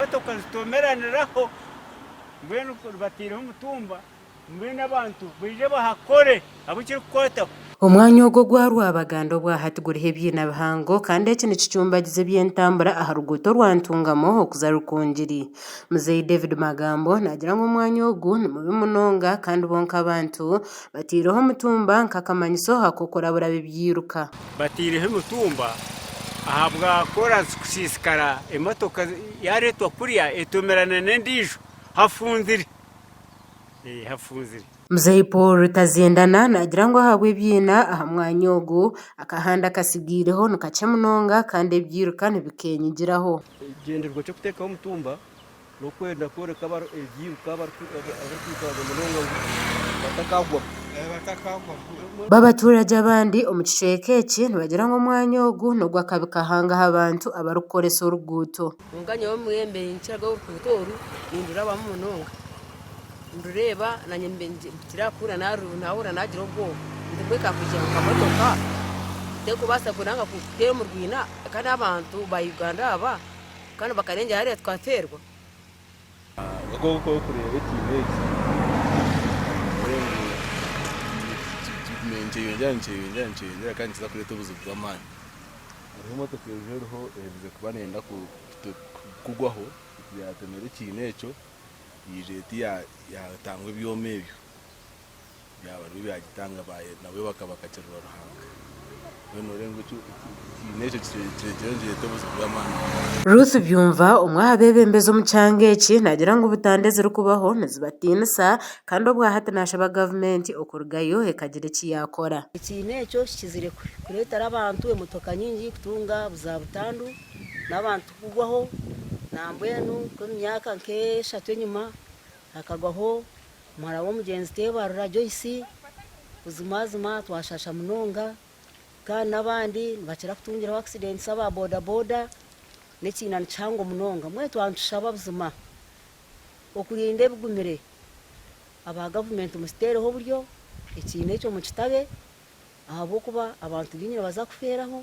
Emotoka zitomeraniraho mbwenu bataireho omutumba mbwenu abantu baije bahakore abu kirikukwataho. Omwanya ogwo gwa Rwabaganda obwa hati guriho ebyina bihango kandi eki nikicumbagiza eby'entambura aha ruguuto rwa Ntungamo okuza Rukungiri. Muzeeyi David Magambo naagira ngu omwanya ogu ni mubi munonga kandi bo nk'abantu bataireho omutumba nk'akamanyiso ak'okurabura abu ebyairuka. Bataireho emitumba ahabwa koraasi kusiisikara emotoka yaareetwa kuriya etomerana n'endiijo hafunzire. Hafunzire. Muzeeyi Paul Rutaziendana naagira ngu ahabw'ebiina aha mwanya ogu, akahanda akatsigiireho ni kakye munonga kandi ebiiruka nibikeenyigiraho. Ekigyendererwa ky'okuteekaho omutumba N'okwenda kworeka abarikwirukanga abarikuirukangaga munonga ngu batakagwamu. B'abaturage abandi omu kicweka eki nibagira ngu omwanya ogu n'ogw'akabi kahanga aha bantu abarikukoresa oruguuto. Kwonka nyowe omwembe ninkiraga oruguuto oru nindurabamu munonga. Nindureeba nanye mpikiriire kuhurira nahurira nagira obwoba nti mbwenu ka kwija nka motoka terikubaasa kuteera omu rwiina kandi abantu ba Uganda aba. Kandi bakarengyera hariya tukateerwa. Ahabw'okuba nk'oku orikureeba ekiina eki nikyeyogyera nikyeyogyera nikyeyogyera kandi nikiza kureeta obuzibu bw'amaani. Hariho emotoka eriho eriho eherize kuba neeyenda kugwaho yaatemera ekiina ekyo, yaija eti yaatangwa ebyoma ebyo. byaba byo byagitanga nabwe bakabakakirira Ruhanga mbwenu orenga eki ekiine ekyo kirekyerekyeho nikireeta obuzibu bw'amaani munonga. Ruth Byumva omwe aha beebembezi omu kyanga eki naagira ngu butanda ezirikubaho nizibatiinisa kandi obwahati naashaba gavumenti okurugayo ekagira eki yaakora. Ekiine ekyo kikizire kureetera abantu emotoka nyingi kutunga za butandu n'abantu kugwaho nambwenu nk'omu myaka nk'eshatu enyima hakagwaho Muhara w'omugyenzi Teebarura Joyce, Buzimazima twashasha munonga kandi n'abandi nibakira kutungiraho akisidenti aba bodaboda. N'ekiina ni kihango munonga. Mbwenu twaba nitushaba buzima okurinda ebigumire. Aba gavumenti mukiteereho oburyo, ekiina ekyo mukitabe ahabw'okuba abantu baingi nibaza kufeeraho.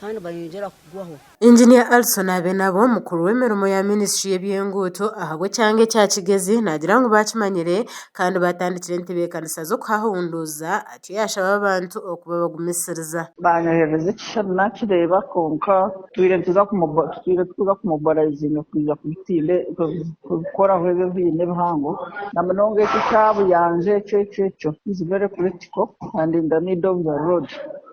kandi bayongyera kugwaho. Engineer Alison Abenabo, omukuru w'emirimo ya minisitry y'ebyenguuto ahabw'ekyanga ekya Kigezi naagira ngu baakimanyire kandi baatandikire entebeekanisa z'okuhahunduuza atyo yaashaba abantu okuba abagumisiriza. Baanyoherereza ekishushani naakireeba kwonka twiire tikuza kumobilizinga kwija kubikoraho ebyo biine ebihango na munonga ekyo ekya Buyanja ekyo ekyo ekyo is very critical and in the middle of the road.